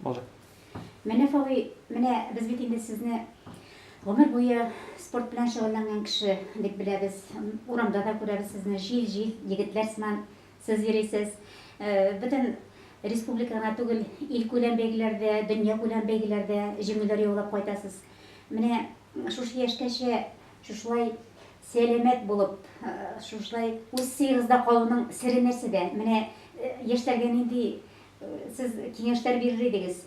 Булды. Менә Фави, менә без бит инде сезне гомер буе спорт белән шөгыльләнгән кеше дип беләбез. Урамда да күрәбез сезне, җил-җил егетләр сыман сез йөрисез. Э, бөтен республика гына түгел, илкүләм бәйгеләрдә, дөньякүләм бәйгеләрдә җиңүләр яулап кайтасыз. Менә шушы яшькәчә шушылай Сәламәт булып, шушылай үз сыегызда калуның сере нәрсәдә? Менә яшьләргә нинди сез киңәшләр бирер идегез?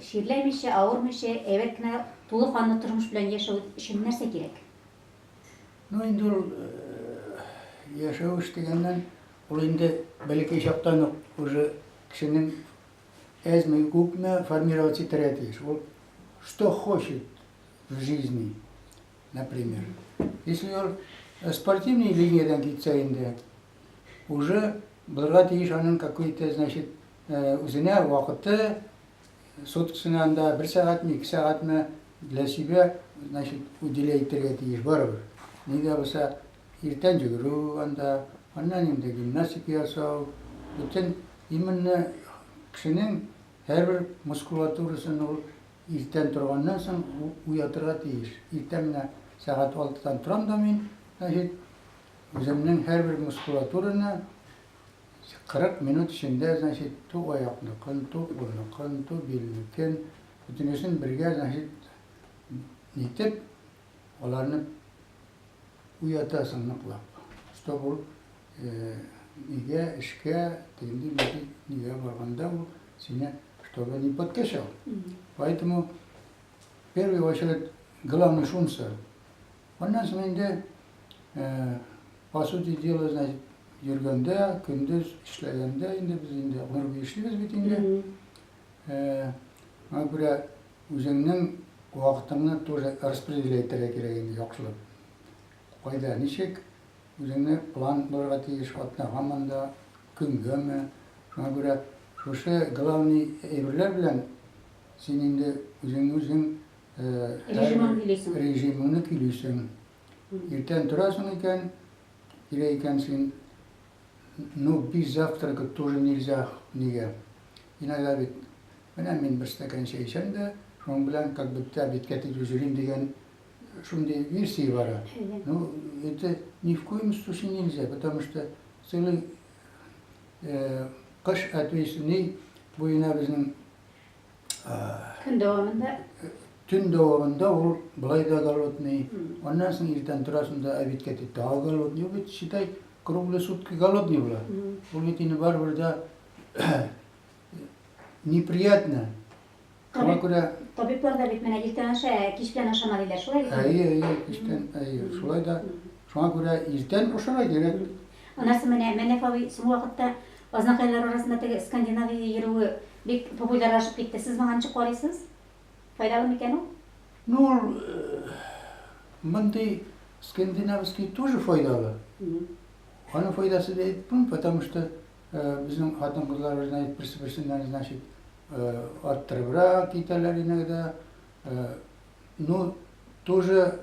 Чирләмичә, авырмыйча, әйбәт кенә тулы канлы тормыш белән яшәү өчен нәрсә кирәк? Ну, инде ул яшәвеш дигәннән, ул инде бәләкәй чактан ук уже кешенең әзме-күпме формироваться итәргә тиеш. Ул что хочет, в жизни, например. Если он э, спортивной линиядән китсә инде, уже булырга тиеш аның какой-то, значит, э, үзенә вакыты, суткасына анда бер сәгатьме, ике сәгатьме для себя, значит, уделя итәргә тиеш барыбер. Нигә булса, иртән йөгерү анда, аннан инде гимнастика ясау, бөтен именно кешенең һәрбер мускулатурасын ул Иртән торганнан соң уятырга тиеш. Иртән менә сәгать алтыдан торам да мин, значит, үземнең һәрбер мускулатураны 40 минут эчендә, значит, ту аякныкын, ту кулныкын, ту билнекен, бөтенесен бергә, значит, нитеп, Аларны уятасың ныклап. Что бу өйгә, эшкә, тегенди нинди нигә барганда бу сине чтобы не подкачал. Поэтому в первую очередь главный шунсы. Аннан соң инде по сути дела, значит, йөргәндә, көндез эшләгәндә инде без инде гомер буе эшлибез бит инде. Аңа күрә Үзеңнең вакытыңны тоже распределять итәргә кирәк инде яхшылап. Кайда, ничек, үзеңне план булырга тиеш, атнага монда, көнгәме. Шуңа күрә шушы главный әйберләр белән син инде үзеңне үзең Режимын көйлисең. Режимыңны көйлисең. Иртән торасың икән, кирәк икән син Ну, без завтракать тоже нельзя, нигә? Иногда бит, менә мин бер стакан чәй эчәм дә, шуның белән как будто обедка китеп йөрим дигән шундый версия бара. Ну, это ни в коем случае нельзя, потому что целый э, кыш ответственный буена безнең көн дәвамында төн дәвамында ул былай да голодный, аннан соң иртән торасың да обедка китеп тагы голодный, бит считай Круглые сутки голодный була. Ул бит инде барыбер дә неприятно. Шуңа күрә Табиблар да бит менә иртән аша, кич белән ашама диләр, шулай бит? Әйе, әйе, кичтән, әйе, шулай да. Шуңа күрә иртән ашарга кирәк. Анасы менә Мәнәф абый соңгы вакытта азнакайлар арасында теге скандинавия йөрүе бик популярлашып китте. Сез моңа ничек карыйсыз? Файдалы микән ул? Ну, ул мондый скандинавский тоже файдалы. Аның файдасы да әйтеп булмый, потому что безнең хатын-кызларыбыз әйтеп берсе-берсеннән, значит, арттырыбрак китәләр иногда. Ну, тоже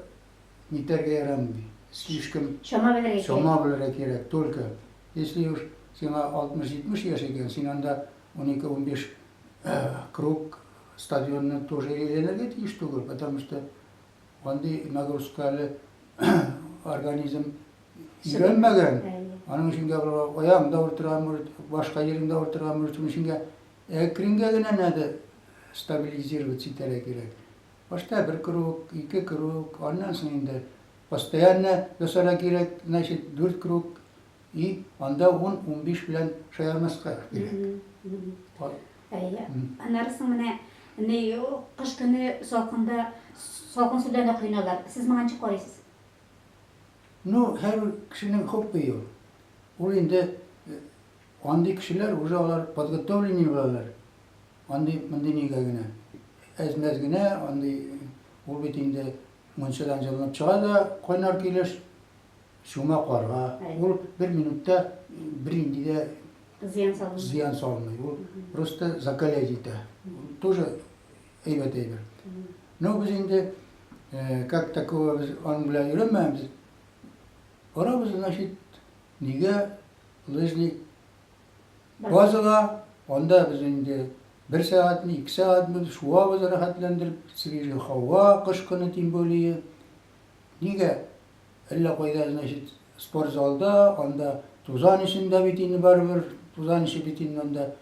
нитәргә ярамый. Слишком чама белергә чама белергә кирәк. Только если уж сиңа 60-70 яшь икән, син анда 12-15 круг Стадионны тоже әйләнергә тиеш түгел, потому что андый нагрузка әле организм өйрәнмәгән. Аның өчен дә аяк да утыра, может, башка җирен дә утыра, может, шуның өчен дә әкрингә генә надо стабилизироваться итәргә кирәк. Башта бер круг, ике круг, аннан соң инде постоянно ясарга кирәк, значит, дүрт круг И анда ун-унбиш белән шаярмаска кирәк. Әйе. Аннары соң менә ни кыш көне салкында салкын сүдә дә коеналар. Сез моңа ничек карыйсыз? Ну, һәр кешенең хоббые ул. Ул инде андый кешеләр уже алар подготовленный булалар. Андый мондый нигә генә. Әз-мәз генә андый ул бит инде мунчадан җылынып чыга да кайнар килеш Чума карга, ул бер минутта бернинди дә зыян салмый. Ул просто закалять итә. Тоже әйбәт әйбер. Но без инде как такого без аның белән йөрмәбез. Барабыз, значит, нигә лыжный базага, анда без инде бер сәгатьме, ике сәгатьме шуабыз рәхәтләндереп, свежий һава, кыш көне тем более. Нигә Әллә кайда, значит, спорт залда, анда тузан эчендә бит инде барыбер, тузан эче бит инде анда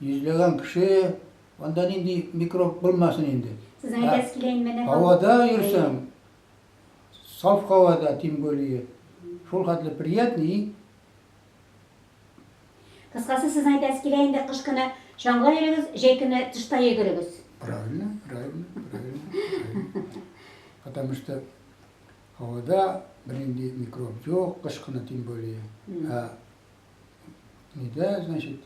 йөзләгән кеше, анда нинди микроб булмасын инде. Сезнең әйтәсез килә инде менә. Һавада йөрсәң, саф һавада, тем более, шул хәтле приятный. Кыскасы, сезнең әйтәсез килә инде, кыш көне чаңга йөрегез, җәй көне тышта йөгерегез. Правильно, правильно, правильно. Потому что Һавада бернинди микроб юк, кыш кына тем более. Ә нидә, значит,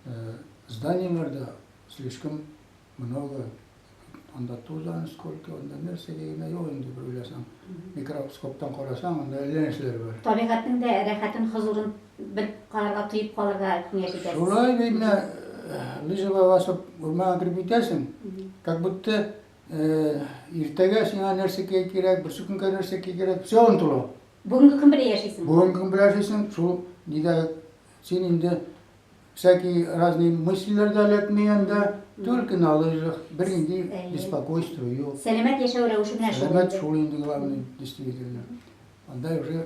э, зданиеларда слишком много анда тузан сколько, анда нәрсә дигәндә юк инде бер уйласаң. Микроскоптан карасаң, анда әллә нәрсәләр бар. Табигатьнең дә рәхәтен, хозурын бер карарга, тоеп калырга киңәш итәсез. Шулай бит менә э, лыжа басып урманга кереп китәсең, как будто Иртәгә сиңа нәрсә кей кирәк, берсе көнгә нәрсә кей кирәк, все онтыла. Бүгенге көн белән яшисең. Бүгенге көн белән яшисең, шул нидә син инде всякие разные мыслиләр дә эләкми анда, только на лыжах, бер инде беспокойство юк. Сәламәт яшәү рәвеше менә шул. Сәламәт шул инде главный, действительно. Анда уже